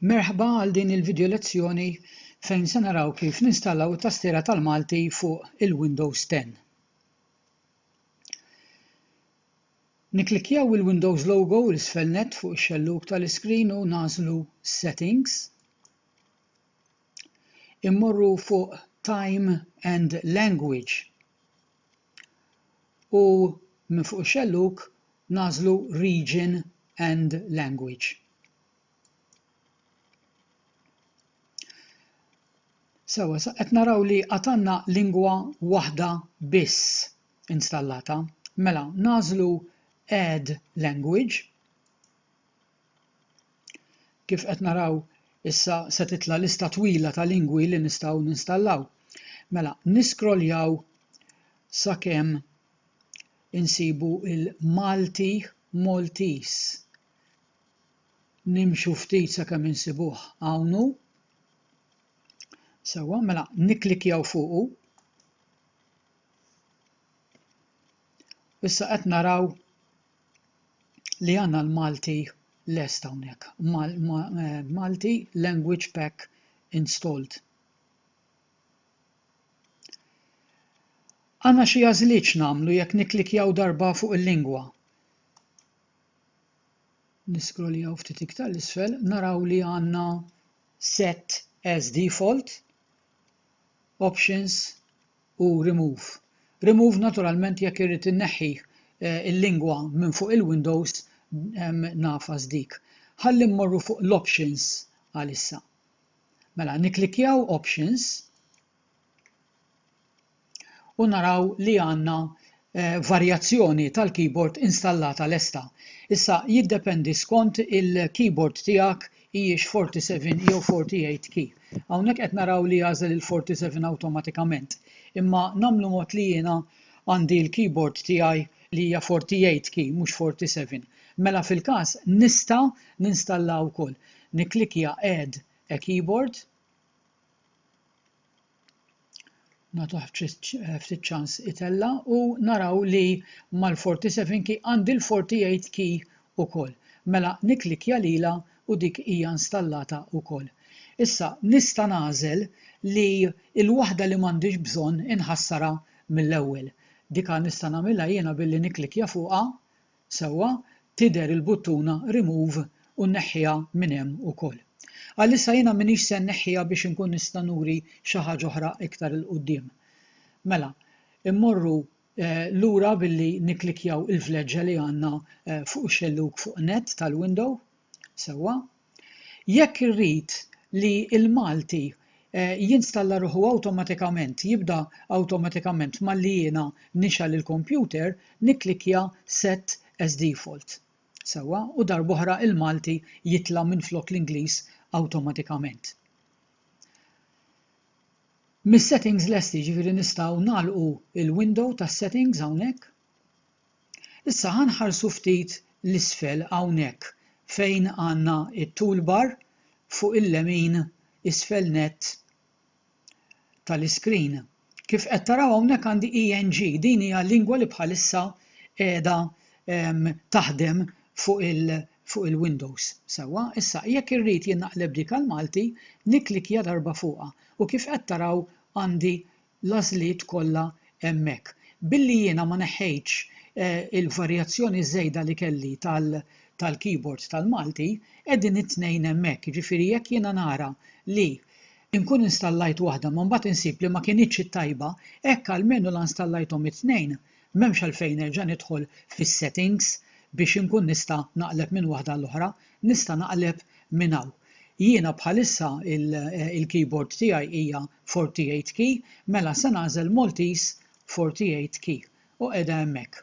Merħba għal din il-video lezzjoni fejn se naraw kif ninstallaw it-tastiera tal-Malti fuq il-Windows 10. Nikklikkjaw il-Windows logo l isfel net fuq ix-xellug tal-iskrin u nagħżlu Settings. Immorru fuq Time and Language. u minn fuq ix-xellug nagħżlu Region and Language. Sewwa, sa qed naraw li għad għandna lingwa waħda biss installata. Mela, nagħżlu Add Language. Kif qed naraw issa se titla' lista twila ta' lingwi li nistgħu ninstallaw. Mela, niskroljaw sakemm insibu il-Malti Maltese. Nimxu ftit sakemm insibuh hawnhu. Sewwa, mela nikklikjaw fuqu. Issa qed naraw li għandna l-Malti lest hawnhekk. Malti Language Pack installed. Għandna xi għażliet nagħmlu jekk nikklikjaw darba fuq il-lingwa. Niskroljaw ftit iktar l-isfel, naraw li għandna set as default, options, u remove. Remove naturalment jekk irrid inneħħi l-lingwa minn fuq il-windows nagħfas dik. Ħalli mmorru fuq l-options għalissa. Mela nikklikkjaw options u naraw li għandna varjazzjoni tal-keyboard installata lesta. Issa jiddependi skont il-keyboard tiegħek hijiex 47 jew 48 key. Hawnhekk qed naraw li jagħżel il-47 awtomatikament. Imma nagħmlu mod li jiena għandi l-keyboard tiegħi li hija 48 key mhux 47. Mela fil-każ nista' ninstalla wkoll. Nikklikja Add a Keyboard. nagħtuh ftit ċans itella' u naraw li mal-47 key għandi l-48 key ukoll. Mela nikklikkja lilha u dik hija installata wkoll. Issa nista' nagħżel li l-waħda li m'għandix bżonn inħassarha mill-ewwel. Dika nista' nagħmilha jiena billi nikklikkja fuqha Sewwa, tidher il-buttuna remove u nneħħiha minn hemm ukoll. Għalissa jiena m'iniex se nneħħiha biex inkun nista' nuri xi ħaġa oħra iktar 'il quddiem. Mela, immorru lura billi nikklikkjaw il-vleġġa li għandna fuq ix-xellug fuq net tal-window. Sewwa, Jekk irrid li l-Malti jinstalla ruħu awtomatikament, jibda awtomatikament malli jiena nixgħel il-kompjuter, nikklikkja Set as Default. Sewwa, u darb'oħra l-Malti jitla' minflok l-Ingliż awtomatikament. Mis-settings lesti, jiġifieri nistgħu nagħlqu l-window tas-settings hawnhekk. Issa ħa nħarsu ftit 'l isfel hawnhekk fejn għandna t-toolbar fuq il-lemin isfel nett tal-iscreen. Kif qed taraw hawnhekk għandi ENG, din hija l-lingwa li bħalissa qiegħda taħdem fuq il fuq il-Windows. Sewwa, issa jekk irrid jien naqleb dik għall-Malti, nikklikkja darba fuqha u kif qed taraw għandi l-għażliet kollha hemmhekk. Billi jiena ma neħħejtx il-varjazzjoni żejda li kelli tal-keyboard tal-Malti, qegħdin it-tnejn hemmhekk. Jiġifieri jekk jiena nara li nkun installajt waħda ma mbagħad insib li ma kinitx it-tajba, hekk almenu la nstalajthom it-tnejn, m'hemmx għalfejn nerġa' nidħol fis-settings biex inkun nista' naqleb minn waħda għall-oħra, nista' naqleb minn hawn. Jiena bħalissa il-keyboard tiegħi hija Forty Eight Key, mela se nagħżel Maltese Forty Eight Key u qiegħda hemmhekk.